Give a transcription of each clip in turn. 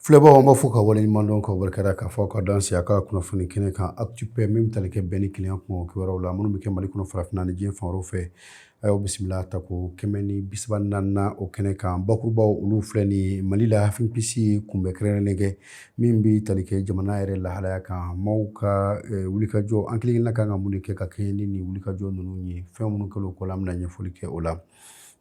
Filɛbagaw an b'aw fo ka waleɲumandɔn ka barikada k'aw fo ka dansɛ an ka kunnafoni kɛnɛ kan Actu Paix min bɛ tali kɛ bɛn ni kelenya kun kibaruyaw la minnu bɛ kɛ mali kɔnɔ farafinna ni diɲɛ fan wɛrɛw fɛ a y'aw bisimila tako kɛmɛ ni bisaba ni naaninan o kɛnɛ kan bakurubaw olu filɛ nin mali la FNPC ye kunbɛn kɛrɛnkɛrɛnnen kɛ min bɛ tali kɛ jamana yɛrɛ lahalaya kan maaw ka eh, wulikajɔ an kelenkelenna kan ka mun kɛ ka kɛɲɛ ni nin wulikajɔ ninnu ye fɛn minnu kɛ kɔ an bɛna ɲɛfɔli kɛ o la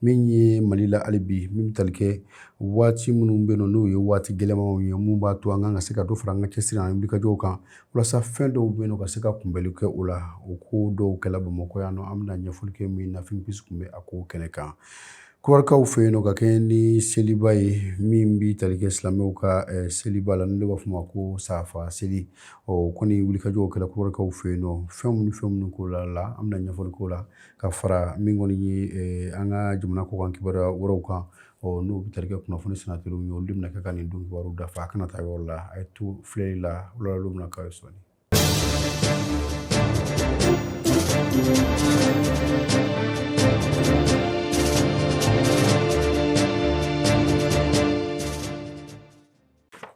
min ye mali la hali bi min bɛ tali kɛ waati minnu bɛ yen n'o ye waati gɛlɛnmanw ye mun b'a to an kan ka se ka dɔ fara an ka cɛsiri ani wulikajɔw kan walasa fɛn dɔw bɛ yen ka se ka kunbɛnli kɛ o la o ko dɔw kɛla bamakɔ yan nɔ an bɛna ɲɛfɔli kɛ min na FNPC tun bɛ a ko kɛnɛ kan kɔrɔkaw fɛ yen nɔ ka kɛɲɛ ni seliba ye min bɛ tali kɛ silamɛw ka eh, seliba la n'o de b'a fɔ ma ko safa seli ɔ kɔni wulikajɔw kɛla kɔrɔkaw fɛ yen nɔ fɛn minnu fɛn minnu ko la la an bɛna ɲɛfɔli k'o la ka fara min kɔni ye eh, an ka jamana kɔkan kibaruya wɛrɛw kan ɔ n'o bɛ tali kɛ kunnafoni sennateliw ye olu de bɛna kɛ ka nin don kibaruw dafa a kana taa yɔrɔ la a ye to filɛli la o lahalaw bɛna k'a ye sɔɔni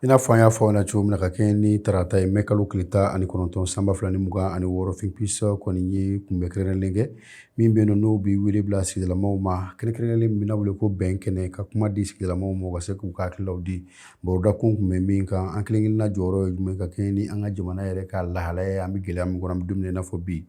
I n'a fɔ an y'a fɔ aw ɲɛna cogo min na ka kɛɲɛ ni tarata ye mɛ kalo tile tan ani kɔnɔntɔn san ba fila ni mugan ani wɔɔrɔ FNPC kɔni ye kunbɛn kɛrɛnkɛrɛnnen kɛ min bɛ n'o bɛ wele bila sigidalamaw ma kɛrɛnkɛrɛnnen min bɛna wele ko bɛn kɛnɛ ka kuma di sigidalamaw ma ka se k'u ka hakililaw di baro dakun tun bɛ min kan an kelenkelenna jɔyɔrɔ ye jumɛn ka kɛɲɛ ni an ka jamana yɛrɛ ka lahalaya an bɛ gɛlɛya min kɔnɔ an bɛ don min na i n'a fɔ bi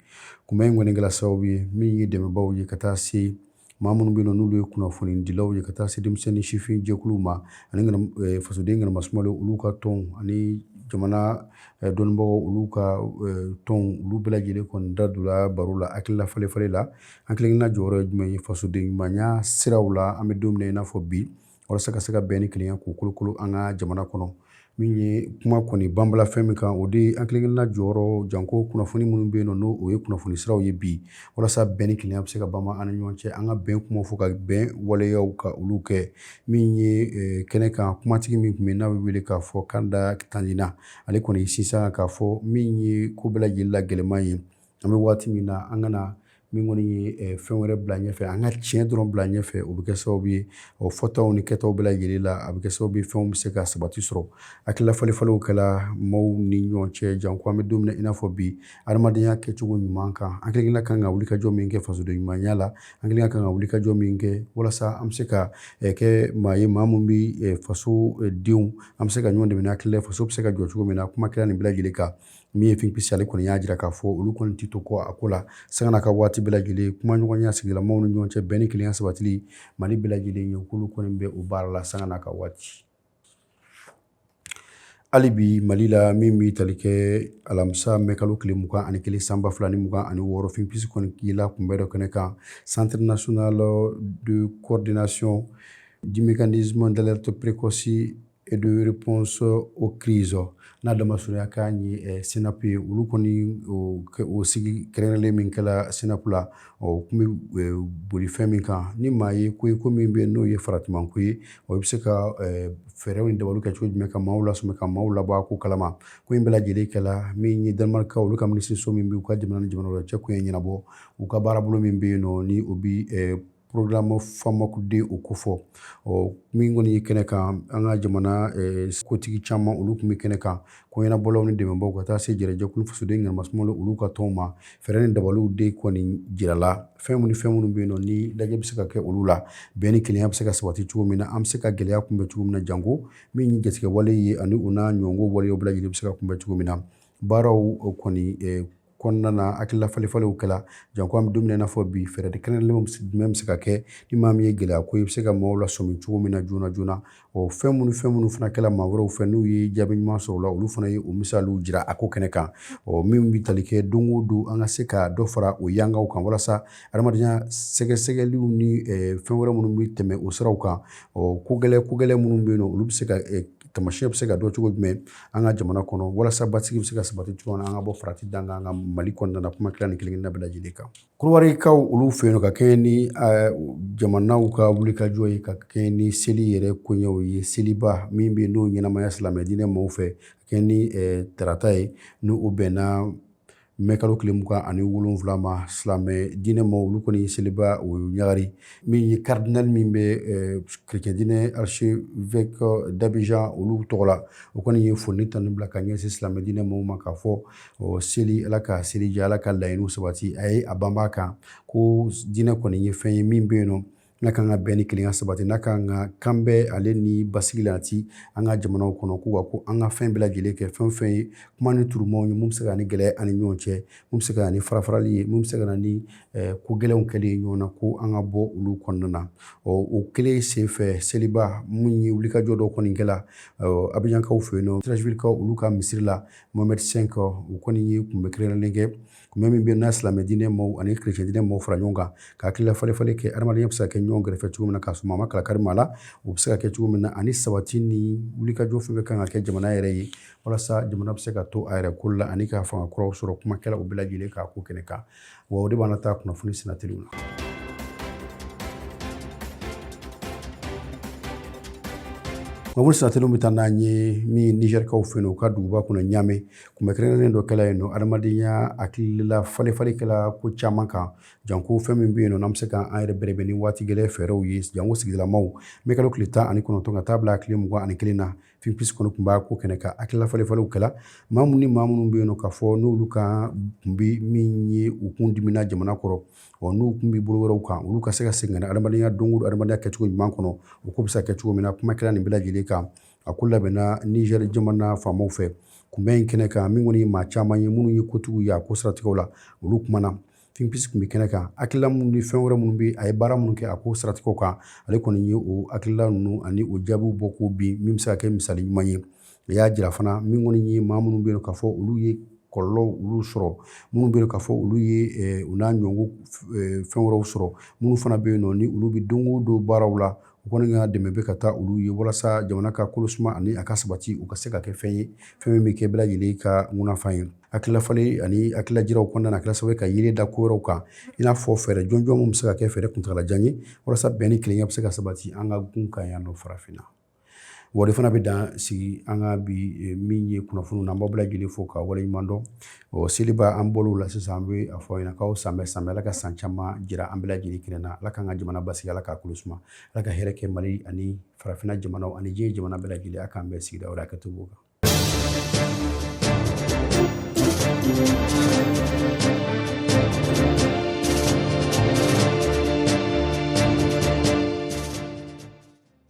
kunbɛn in kɔni kɛla sababu ye min ye dɛmɛbaw ye ka taa se maa minnu bɛ yen n'olu ye kunnafoni dilaw ye ka taa se denmisɛn ni sifin jɛkuluw ma ani eh, fasoden ŋana masumalen olu ka tɔnw ani jamana eh, dɔnnibagaw olu ka eh, tɔnw olu bɛɛ lajɛlen kɔni da donna baro la hakilila falenfalen la an kelenkelenna jɔyɔrɔ ye jumɛn ye fasoden ɲumanya siraw la an bɛ don min na i n'a fɔ bi walasa ka se ka bɛn ni kelenya k'u kolokolo an ka jamana kɔnɔ min ye kuma kɔni banbala fɛn min kan o de ye an kelenkelenna jɔyɔrɔ janko kunnafoni minnu bɛ yen n'o ye kunnafoni siraw ye bi walasa bɛn ni kelenya bɛ se ka banba an ni ɲɔgɔn cɛ an ka bɛn kuma fɔ ka bɛn waleyaw ka olu kɛ min ye eh, kɛnɛ kan kumatigi min tun bɛ n'a bɛ wele k'a fɔ Kanda Tandina ale kɔni sisan k'a fɔ min ye ko bɛɛ lajɛlen la gɛlɛman ye an bɛ waati min na an kana min kɔni ye eh, fɛn wɛrɛ bila ɲɛfɛ an ka tiɲɛ dɔrɔn bila ɲɛfɛ o bɛ kɛ sababu ye o fɔtaw ni kɛtaw bɛɛ lajɛlen la a bɛ kɛ sababu ye fɛnw bɛ se ka sabati sɔrɔ hakilila falenfalenw kɛla maaw ni ɲɔgɔn cɛ janko an bɛ don min na i n'a fɔ bi adamadenya kɛcogo ɲuman kan an kelen ka kan ka wulikajɔ min kɛ fasoden ɲumanya la an kelen ka kan ka wulikajɔ min kɛ walasa an bɛ se ka eh, kɛ maa ye maa min bɛ eh, fasodenw an bɛ se ka ɲɔgɔn dɛmɛ hakilila faso bɛ se ka jɔ cogo min na kuma kɛra nin bɛɛ lajɛlen kan min ye Think Peace ale kɔni y'a jira k'a fɔ olu kɔni tɛ to kɔ a ko la sanga ni waati bɛɛ lajɛlen kumaɲɔgɔnya sigidalamaw ni ɲɔgɔn cɛ bɛn ni kelenya sabati mali bɛɛ lajɛlen ye k'olu kɔni bɛ o baara la sanga ni waati hali bi mali la min bɛ tali kɛ alamisa mɛ kalo tile mugan ani kelen san ba fila ni mugan ani wɔɔrɔ Think Peace kɔni yela kunbɛ dɔ kɛnɛ kan Centre national de coordination du mécanisme d'alerte précoce et de réponse aux crises n'a damasurunya k'a ye eh, CNAP ye olu kɔni o sigi kɛrɛnkɛrɛnlen min kɛla CNAP la o tun bɛ eh, boli fɛn min kan ni maa ye ko ye ko min bɛ yen n'o ye faratimanko ye o bɛ se ka eh, fɛɛrɛw ni dabaliw kɛ cogo jumɛn ka maaw lasɔmi ka maaw labɔ a ko kalama ko in bɛɛ lajɛlen kɛla min ye danimarikaw olu ka minisiriso min bɛ u ka jamana ni jamana wɛrɛ cɛ koɲɛ ɲɛnabɔ u ka baarabolo min bɛ yen nɔ ni o bɛ programme FAMOC deux o kofɔ ɔ min kɔni ye kɛnɛ kan an ka jamana eh, kotigi caman olu tun bɛ kɛnɛ kan ko ɲɛnabɔlaw ni dɛmɛbaaw ka taa se jɛrɛjɛkulu fasoden ɲɛnamasumalo olu ka tɔnw ma fɛɛrɛ ni dabaliw de kɔni jirala fɛn minnu fɛn minnu bɛ yen nɔ ni lajɛ bɛ se ka kɛ olu la bɛn ni kelenya bɛ se ka sabati cogo min na an bɛ se ka gɛlɛya kunbɛn cogo min na janko min ye jatigɛwale ye ani u n'a ɲɔgɔnko waleyaw bɛɛ lajɛlen bɛ se ka kunbɛn cogo min na baaraw kɔni eh, kɔnɔna na hakilila falenfalenw kɛla janko an bɛ don min na i n'a fɔ bi fɛɛrɛ kɛrɛnkɛrɛnlenw jumɛn bɛ se ka kɛ ni maa min ye gɛlɛya ko i bɛ se ka maaw lasɔmi cogo min na joona joona o fɛn minnu fɛn minnu fana kɛla maa wɛrɛw fɛ n'u ye jaabi ɲuman sɔrɔ o la olu fana ye o misaliw jira a ko kɛnɛ kan ɔ min bɛ tali kɛ don o don an ka se ka dɔ fara o yangaw kan walasa adamadenya sɛgɛsɛgɛliw ni fɛn wɛrɛ minnu bɛ tɛmɛ o siraw kan ɔ ko gɛlɛn ko gɛlɛn minnu bɛ yen nɔ olu bɛ se ka Tamasiyɛn bɛ se ka dɔn cogo jumɛn an ka jamana kɔnɔ walasa basigi bɛ se ka sabati cogo min na an ka bɔ farati dan kan an ka mali kɔnɔna na kuma kɛra nin kelen-kelenna bɛɛ lajɛlen kan kɔdiwarikaw olu fɛ yen ka kɛɲɛ ni jamanaw ka wulikajɔ ye ka kɛɲɛ ni seli yɛrɛ koɲɛw ye seliba min bɛna ɲɛnamaya silamɛ diinɛ maaw fɛ ka kɛɲɛ ni tarata ye n'o bɛnna mɛ kalo tile mugan ani wolonwula ma silamɛ diinɛ maa olu kɔni seliba o ɲagari min ye karidinali min bɛ eh, kerecɛn diinɛ archevêque d'Abidjan olu tɔgɔ la o kɔni ye foli ni tanu bila ka ɲɛsin silamɛ diinɛ maaw ma k'a fɔ oh, seli ala ka seli diya ala ka laɲiniw sabati a ye a banban a kan ko diinɛ kɔni ye fɛn ye min bɛ yen nɔ n'a kan ka bɛn ni kelenya sabati n'a kan ka kan bɛɛ ale ni basigi la ti an ka jamanaw kɔnɔ k'u ka ko an ka fɛn bɛɛ lajɛlen kɛ fɛn o fɛn ye kuma ni turumaw ye min bɛ se ka na ni gɛlɛya ye an ni ɲɔgɔn cɛ min bɛ se ka na ni farafarali ye min bɛ se ka na ni eh, ko gɛlɛnw kɛli ye ɲɔgɔn na ko an ka bɔ olu kɔnɔna na ɔ o kelen senfɛ seliba min ye wulikajɔ dɔ kɔni kɛla abijankaw fɛ yen nɔ Treichvillekaw olu ka misiri la mohamɛdi cinq o kɔni ye kunbɛ kɛrɛnkɛrɛnnen kɛ kunbɛn min bɛ na silamɛ diinɛ maaw ani kirecɛn diinɛ maaw fara ɲɔgɔn kan ka hakilila falefale kɛ adamadenya bɛ se ka kɛ ɲɔgɔn kɛrɛfɛ cogo min na k'a sɔrɔ a ma kalakari maa la o bɛ se ka kɛ cogo min na ani sabati ni wulikajɔ fɛn bɛ kan ka kɛ jamana yɛrɛ ye walasa jamana bɛ se ka to a yɛrɛ ko la ani ka fanga kuraw sɔrɔ kuma kɛla o bɛɛ lajɛlen kan a ko kɛnɛ kan wa o de b'an taa kunnafoni sinatiriw la kunnafoni sinatiriw bɛ taa n'an ye min nizɛrikaw fɛ yen u ka duguba kɔnɔ ɲaame Kunbɛn kɛrɛnkɛrɛnnen dɔ kɛla yen nɔ adamadenya hakilila falefale kɛla ko caman kan janko fɛn min bɛ yen nɔ n'an bɛ se k'an yɛrɛ bɛrɛbɛn ni waati gɛlɛn fɛɛrɛw ye janko sigidalamaw mɛkalo tile tan ani kɔnɔntɔn ka taa bila a tile mugan ani kelen na fipsi kɔni tun b'a ko kɛnɛ kan hakilila falefalew kɛla maa minnu ni maa minnu bɛ yen nɔ k'a fɔ n'olu ka tun bɛ min ye u kun dimina jamana kɔrɔ ɔ n'u tun bɛ bolo wɛrɛw kan olu ka se ka segin ka na adamadenya don o don adamadenya kɛcogo ɲuman kɔnɔ o ko bɛ se ka kɛ cogo min na kuma kɛra nin bɛɛ lajɛlen kan A ko labɛnna nizɛri jamana faamaw fɛ kunbɛn in kɛnɛ kan min kɔni ye maa caman ye minnu ye kotigiw ye a ko siratigɛ la olu kumana fipsi tun bɛ kɛnɛ kan hakilila minnu ni fɛn wɛrɛ minnu bɛ a ye baara minnu kɛ a ko siratigɛ kan ale kɔni ye o hakilila ninnu ani o jaabiw bɔ ko bin min bɛ se ka kɛ misali ɲuman ye a y'a jira fana min kɔni ye maa minnu bɛ yen k'a fɔ olu ye kɔlɔlɔw sɔrɔ minnu bɛ yen k'a fɔ olu ye u n'a ɲɔgɔn fɛn wɛrɛw sɔrɔ minnu fana bɛ yen nɔ ni olu bɛ don o don baaraw la u kɔni ka dɛmɛ bɛ ka taa olu ye walasa jamana ka kolo suma ani a ka sabati o ka se ka kɛ fɛn ye fɛn min bɛ kɛ bɛɛ lajɛlen ka munafan ye hakililafalen ani hakililajiraw kɔnɔna na a kɛra sababu ye ka yiri da ko wɛrɛw kan i n'a fɔ fɛɛrɛ jɔnjɔn min bɛ se ka kɛ fɛɛrɛ kuntagalajan ye walasa bɛn ni kelenya bɛ se ka sabati an ka gun kan yan nɔ farafinna wa o de fana bɛ dan sigi an ka bi eh, min ye kunnafoni na an b'aw bɛɛ lajɛlen fo ka waleɲuman dɔn ɔ seliba an bɔl'o la sisan an bɛ a fɔ aw ɲɛna k'aw san bɛɛ san bɛɛ ala ka san caman jira an bɛɛ lajɛlen kɛnɛ na ala k'an ka jamana basigi ala k'a kolo suma ala ka hɛrɛ kɛ mali ani farafinna jamanaw ani diɲɛ jamana bɛɛ lajɛlen a k'an bɛɛ sigida wɛrɛ hakɛto b'o kan